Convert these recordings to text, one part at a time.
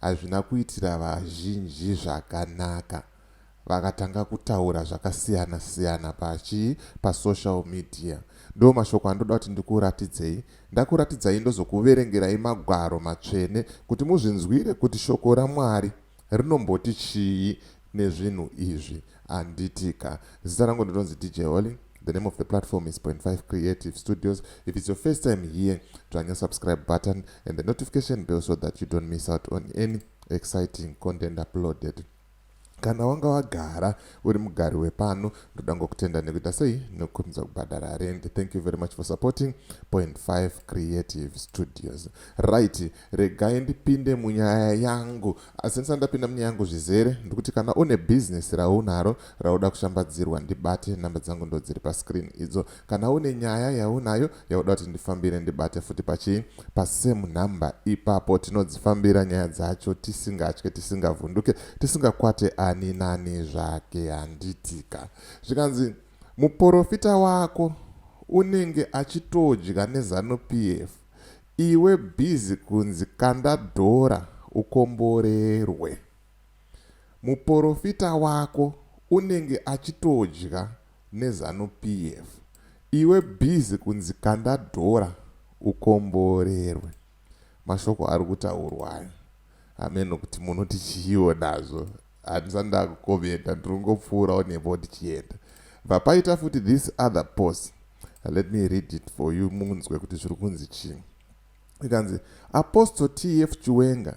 hazvina kuitira vazhinji zvakanaka vakatanga kutaura zvakasiyana siyana pachi pasocial media ndo mashoko andoda kuti ndikuratidzei ndakuratidzai ndozokuverengerai magwaro matsvene kuti muzvinzwire kuti shoko ramwari rinomboti chii nezvinhu izvi handiti ka. Zita rangu ndinonzi DJ Holly. The name of the platform is Point 5 Creative Studios. If it's your first time here, dzvanya subscribe button and the notification bell so that you don't miss out on any exciting content uploaded. Kana wanga wagara uri mugari wepano, ndoda ngokutenda nekuita sei nokumbidza kubhadhara rent. Thank you very much for supporting Point 5 Creative Studios. Right, regai ndipinde munyaya yangu Asi ndisati ndapinda munyaya yangu zvizere, ndikuti kana une bhizinesi raunaro rauda kushambadzirwa, ndibate. Nhamba dzangu ndo dziri pascreen idzo. Kana une nyaya yaunayo yauda kuti ndifambire, ndibate futi pachii? Pasame number ipapo. Tinodzifambira nyaya dzacho tisingatye, tisingavhunduke, tisingakwate ani nani zvake, handitika? Zvikanzi, Muporofita wako unenge achitodya neZanu PF. Iwe busy kunzi kanda dhora ukomborerwe. Muporofita wako unenge achitodya nezanu PF iwe busy kunzi kanda dhora ukomborerwe. Mashoko arikutaurwa ayo hameno kuti munoti chiiwo nazvo. handisati ndakukomenta ndiri kungopfuurawo nepo ndichienda vapaita futi this other post let me read it for you munzwe kuti zviri kunzi chii ikanzi apostle tf chiwenga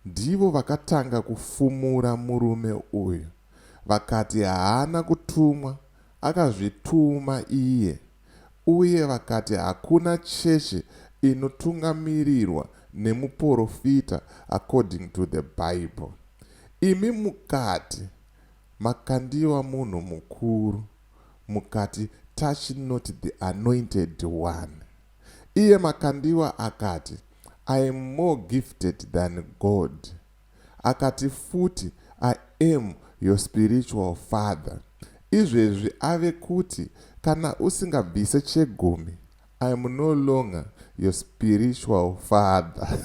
ndivo vakatanga kufumura murume uyu vakati haana kutumwa akazvituma iye Uye vakati, Hakuna chechi inotungamirirwa nemuporofita according to the Bible. Imi mukati, Makandiwa munhu mukuru, mukati, Touch not the anointed one. Iye Makandiwa akati, I am more gifted than God. Akati futi, I am your spiritual father. Izvezvi ave kuti, kana usingabvise chegumi, I am no longer your spiritual father.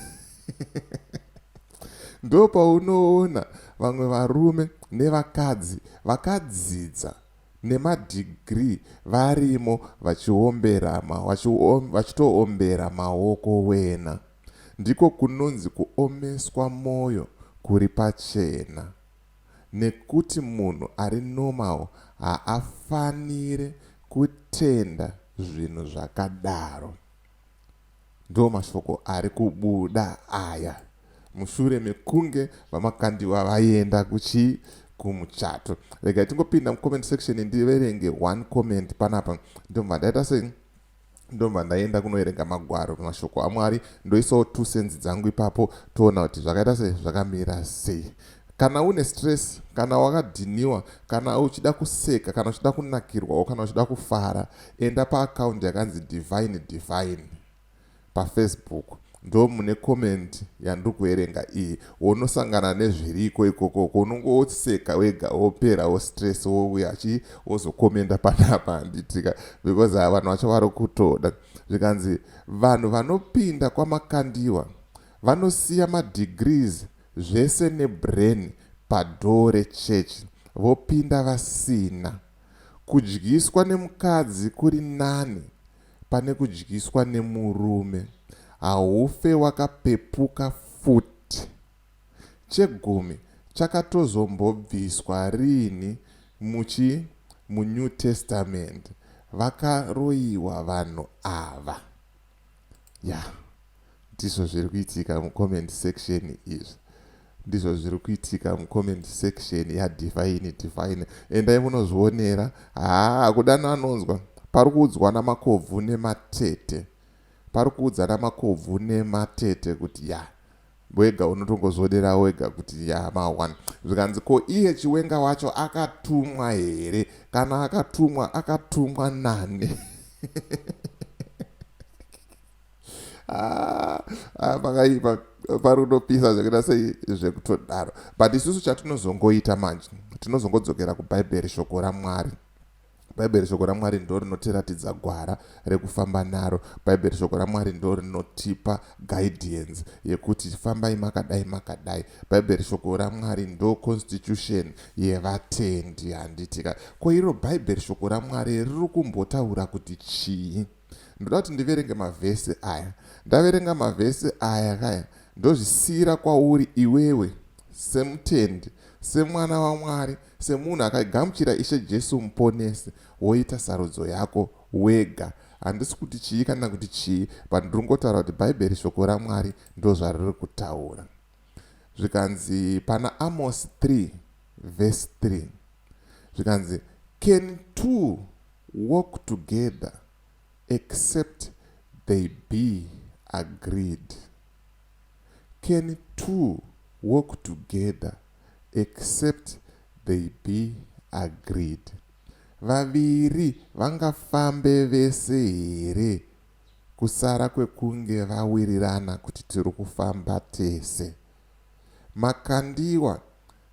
Ndopaunoona vamwe varume nevakadzi vakadzidza nemadhigirii varimo vachiombera ma, vachito, vachitoombera maoko wena. Ndiko kunonzi kuomeswa moyo kuri pachena nekuti munhu ari normal haafanire kutenda zvinhu zvakadaro. Ndomashoko ari kubuda aya mushure mekunge VaMakandiwa vaenda kuchi kumuchato. Rega tingopinda mucomment section ndiverenge one comment panapa ndobva ndaita sei ndobva ndaienda kunoerenga magwaro pemashoko amwari ndoisawo two senzi dzangu ipapo toona kuti zvakaita sei zvakamira sei kana une stress kana wakadhiniwa kana uchida kuseka kana uchida kunakirwawo kana uchida kufara enda paakaundi yakanzi divine divine pafacebook Ndomune comment yandiri kuverenga iyi wonosangana nezviriko ikoko ko unongo woseka wega wopera wo stress wouya achi wozokomenda panapa handitika because haa vanhu vacho vari kutoda zvikanzi vanhu vanopinda kwamakandiwa vanosiya madegrees zvese nebrain padhoo rechurch vopinda vasina kudyiswa nemukadzi kuri nani pane kudyiswa nemurume haufe wakapepuka futi chegumi chakatozombobviswa riini muchi mu new testament vakaroyiwa vanhu ava yah. Ndizvo zviri kuitika mucomment section izvi ndizvo zviri kuitika mucomment section yadivine divine endai munozvionera haa kudano anonzwa pari kuudzwa namakobvu nematete pari kuudza namakobvu nematete kuti ya wega unotongozvodera wega kuti ya maone zvikanzi ko iye chiwenga wacho akatumwa here kana akatumwa akatumwa nani Ah, ah, pakaipa parunopisa zvekuita sei zvekutodaro but isusu chatinozongoita manje tinozongodzokera kubhaibheri shoko ramwari bhaibheri shoko ramwari ndo rinotiratidza gwara rekufamba naro bhaibheri shoko ramwari ndo rinotipa guidance yekuti fambai makadai makadai bhaibheri shoko ramwari ndo constitution yevatendi handitika ko iro bhaibheri shoko ramwari riri kumbotaura kuti chii ndoda kuti ndiverenge mavhesi aya ndaverenga mavhesi aya kaya ndozvisiyira kwauri iwewe semutendi semwana wamwari semunhu akagamuchira ishe jesu muponesi woita sarudzo yako wega handisi kuti chii kana kuti chii but ndiri ngotaura kuti bhaibheri shoko ramwari ndozvariri kutaura zvikanzi pana amos 3 vhesi 3 zvikanzi can two work together except they be agreed can two work together except they be agreed vaviri vangafambe vese here kusara kwekunge vawirirana kuti tiri kufamba tese. Makandiwa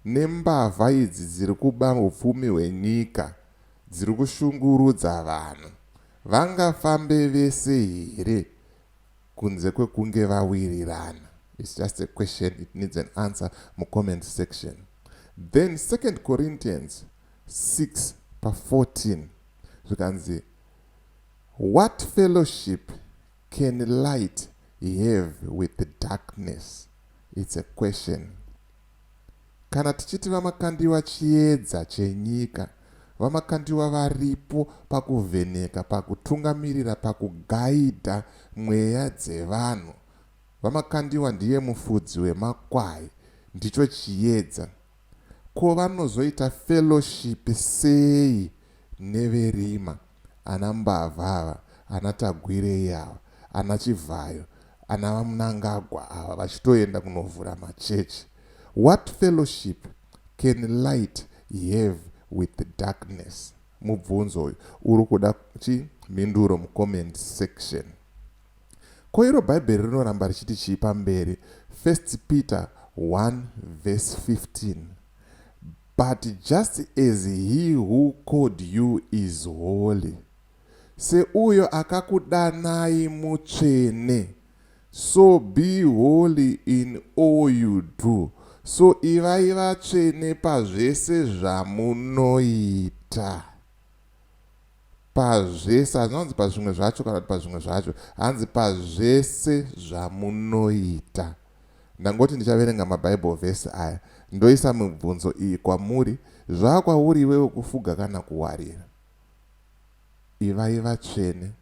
nembavha idzi dziri kuba hupfumi hwenyika dziri kushungurudza vanhu. Vangafambe vese here kunze kwekunge vawirirana? It's just a question it needs an answer mucomment section. Then 2 Corinthians 6 pa 14 zvikanzi what fellowship Can light have with darkness it's a question. Kana tichiti vaMakandiwa chiedza chenyika, vaMakandiwa varipo pakuvheneka, pakutungamirira, pakugaidha mweya dzevanhu. VaMakandiwa ndiye mufudzi wemakwai, ndicho chiedza. Ko vanozoita fellowship sei neverima ana mbavha ava ana Tagwirei ava ana Chivhayo ana vaMnangagwa ava vachitoenda kunovhura machurch what fellowship can light have with darkness mubvunzo uyu urikuda chii mhinduro mucomment section. Ko iro Bhaibheri rinoramba richiti chii pamberi? First Peter 1 verse 15 But just as he who called you is holy, seuyo akakudanai mutsvene, so be holy in all you do, so ivai vatsvene pazvese zvamunoita. Pazvese, hazvina kunzi pazvimwe zvacho kana kuti pazvimwe zvacho, hanzi pazvese zvamunoita. Ndangoti ndichaverenga maBible verse aya ndoisa mibvunzo iyi kwamuri, Zvava kwauri iwewe kufuga kana kuwarira. Ivai vatsvene,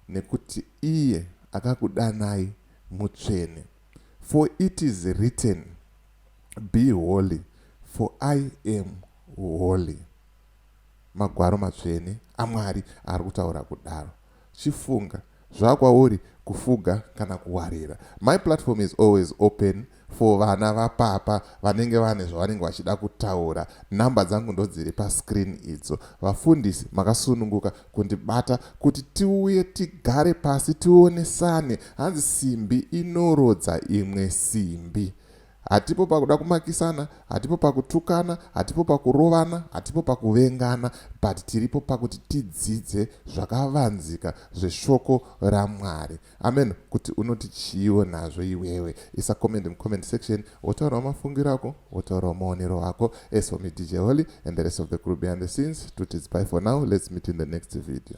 nekuti iye akakudanai mutsvene. For it is written, Be holy, for I am holy. Magwaro matsvene aMwari ari kutaura kudaro. Chifunga, zvakwauri kufuga kana kuwarira. My platform is always open for vana vapapa vanenge vane zvavanenge vachida kutaura. Number dzangu ndodziri pascreen idzo. Vafundisi makasununguka kundibata kuti tiuye tigare pasi tionesane. Hanzi simbi inorodza imwe simbi. Hatipo pakuda kumakisana, hatipo pakutukana, hatipo pakurovana, hatipo pakuvengana but tiripo pakuti tidzidze zvakavanzika zveshoko raMwari. Amen. Kuti unoti chiiwo nazvo iwewe. Isa comment mucomment section wotaurawo mafungiro ako, wotaurawo maonero ako. As for me DJ Holy and the rest of the crew behind the scenes, to tidzpai for now. Let's meet in the next video.